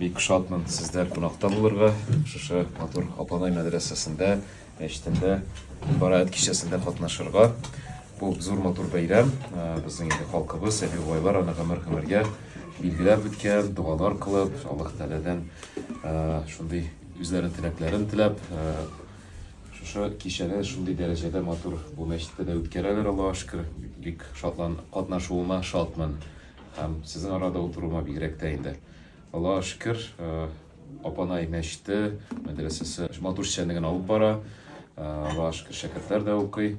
Бик шатмын сездә кунакта булырга, шушы матур Апанай мәдрәсәсендә, мәчетендә Бараәт кичәсендә катнашырга. Бу зур матур бәйрәм, безнең инде халкыбыз, әби бабайлар аны гомер-гомергә билгеләп үткән, дуалар кылып, Аллаһ Тәгаләдән шундый үзләренең теләкләрен теләп, шушы кичәне шундый дәрәҗәдә матур бу мәчеттә дә үткәрәләр, Аллаһ шөкер. Бик шатлан катнашуыма шатмын һәм сезнең арада утыруыма бигрәк тә инде. Аллаһ шөкер, э, апанай мәчте, мәдрәсәсе матур эшчәнлеген генә алып бара. Э, Аллаһ шөкер, шәкертләр дә укый.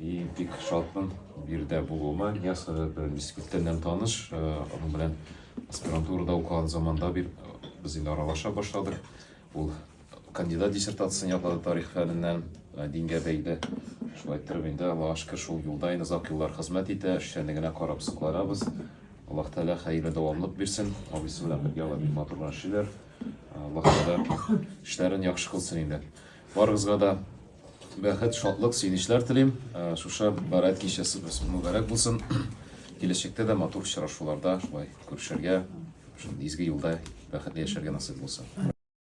И бик шатмын бу жердә булуыма. Ниясовы белән без күптәннән таныш. Э, Аның белән аспирантурада укыган заманда бир без инде аралаша башладык. Ул кандидат диссертациясен яклады тарих фәненнән, э, дингә бәйле. Шулай иттереп инде Аллаһка шөкер шул юлда инде озак еллар хезмәт итә, эшчәнлегенә карап сокланабыз. Аллаһ Тәгалә хәерле дәвамлык бирсен. Абыйсы белән бергә алар бик матур гына эшлиләр. Э, Аллаһ Тәгалә эшләрен яхшы кылсын инде. Барыгызга да бәхет, шатлык, сөенечләр телим. Э, Шушы бәраәт кичәсе без мөбарәк булсын. Киләчәктә дә матур очрашуларда шулай күрешергә, шул изге юлда бәхетле яшәргә насыйп булсын.